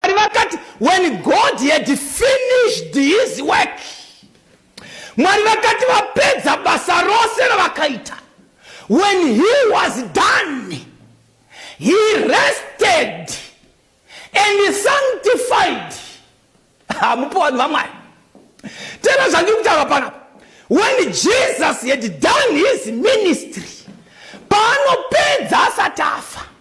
Mwari vakati when God had finished his work. Mwari vakati vapedza basa rose ravakaita. When he was done, he rested and he sanctified. Hamupo vanhu vamwari. Tena zvandiri kutaura panapa. When Jesus had done his ministry, paanopedza asati afa.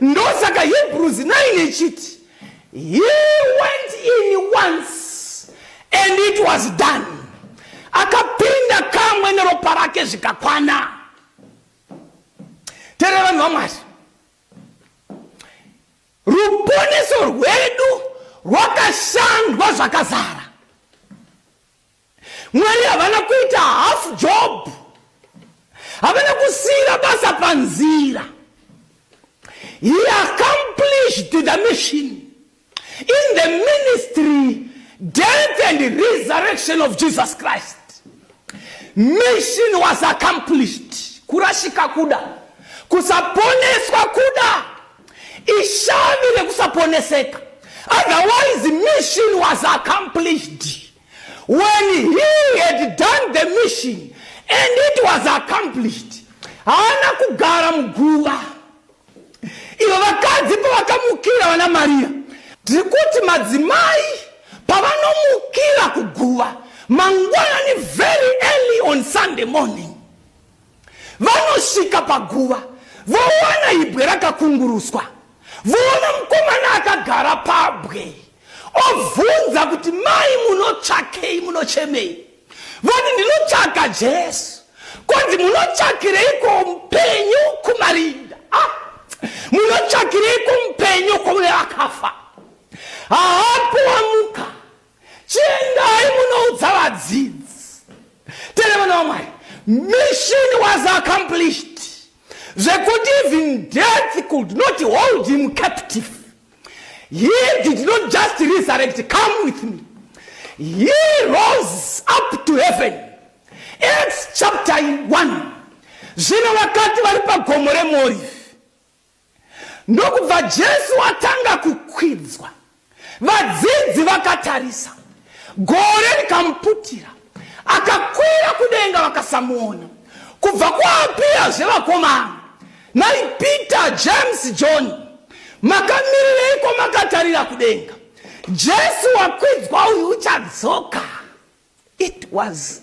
ndosaka hebrews 9 ichiti he went in once and it was done akapinda kamwe neropa rake zvikakwana terera vanhu vamwari ruponeso rwedu rwakashandwa zvakazara Mwari havana kuita half job, havana kusiira basa panzira. He accomplished the mission in the ministry, death and resurrection of Jesus Christ. Mission was accomplished. Kurashika kuda, kusaponeswa kuda, ishavi rekusaponeseka. Otherwise mission was accomplished. When he had done the mission and it was accomplished, haana kugara muguva. Ivo vakadzi pavakamukira vana Maria, tiri kuti madzimai pavanomukira kuguva mangwanani very early on Sunday morning, Vanosvika paguva vowana ibwe rakakunguruswa, voona mukomana akagara pabwe, obvunza kuti mai munotsvakei, munochemei? Voti ndinotsvaka Jesu. Kwanzi munotsvakireiko mupenyu kumarinda? Ah, munotsvakireiko mupenyu kune akafa? Haapo wamuka chiendai munoudza vadzidzi tene vana vamwari mission was accomplished zvekuti even death could not hold him captive he did not just resurrect come with me he rose up to heaven acts chapter 1 zvino vakati vari pagomo remorifi Ndokubva Jesu atanga kukwidzwa. Vadzidzi vakatarisa. Gore rikamuputira. Akakwira kudenga vakasamuona. Kubva kwaapira zvevakomana. Nai Peter, James, John. Makamirireiko makatarira kudenga. Jesu wakwidzwa uyu uchadzoka. It was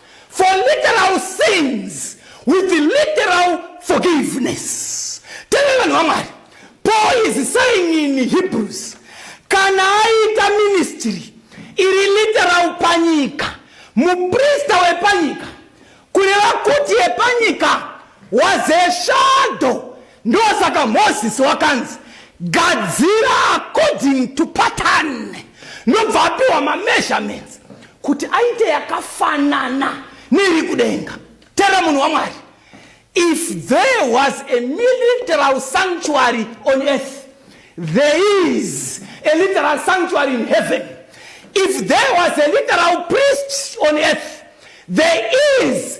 for literal sins with literal forgiveness teve vanhu vamwari paul is saying in hebrews kana aita ministry iri literal panyika muprista wepanyika kureva kuti yepanyika was a shadow Ndosaka Moses wakanzi gadzira according to pattern nobva apiwa mameasurements kuti aite yakafanana neiri kudenga tera munhu wamwari if there was a military sanctuary on earth there is a literal sanctuary in heaven if there was a literal priest on earth there is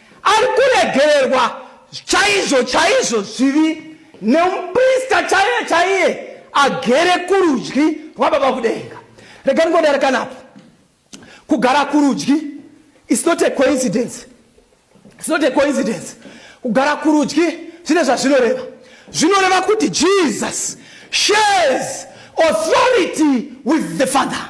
Ari kuregererwa chaizvo chaizvo zvivi nemuprista chaiye chaiye agere kurudyi rwababa kudenga. Rega ndingodarekanapo. Kugara kurudyi is not a coincidence. It's not a coincidence. Kugara kurudyi zvine zvazvinoreva. Zvinoreva kuti Jesus shares authority with the Father.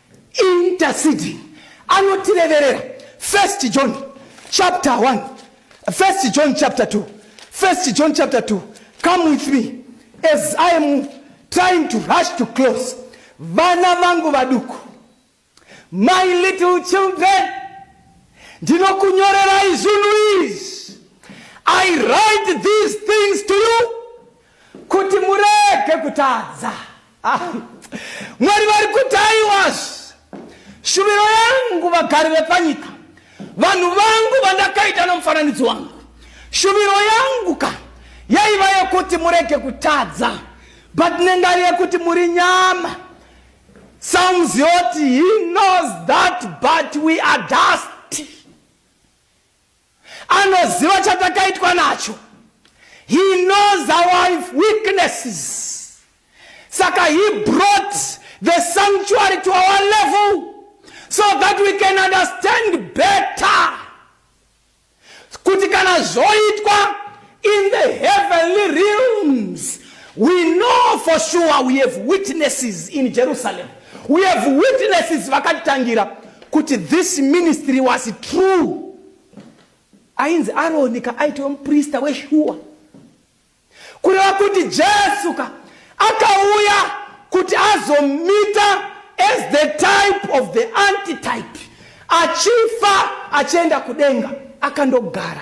Interceding anotireverera. First John chapter 1. First John chapter 2. First John chapter 2. Come with me as I am trying to rush to close. Vana vangu vaduku. My little children. Ndinokunyorerai zvinhu izvi. I write these things to you kuti murege kutadza ah, mwari vari kuti aiwazvi shuviro yangu vagari vepanyika vanhu vangu vandakaita nomufananidzo wangu shuviro yangu ka yaiva yekuti murege kutadza but nengari yekuti muri nyama sounds yoti he knows that but we are dust Anoziva chatakaitwa nacho. He knows our weaknesses. Saka he brought the sanctuary to our level so that we can understand better kuti kana zvoitwa In the heavenly realms, we know for sure we have witnesses in Jerusalem. We have witnesses vakatitangira kuti this ministry was true. Ainzi Aroni ka aitova muprista weshuwa. Kureva kuti Jesu ka akauya kuti azomita as the type of the antitype achifa achienda kudenga akandogara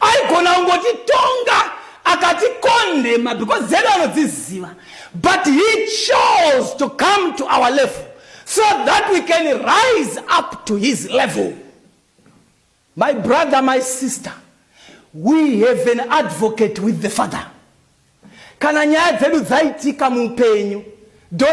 aigona kungotitonga akatikondema because dzedu anodziziva but he chose to come to our level so that we can rise up to his level my brother my sister we have an advocate with the father kana nyaya dzedu dzaitika muupenyu don't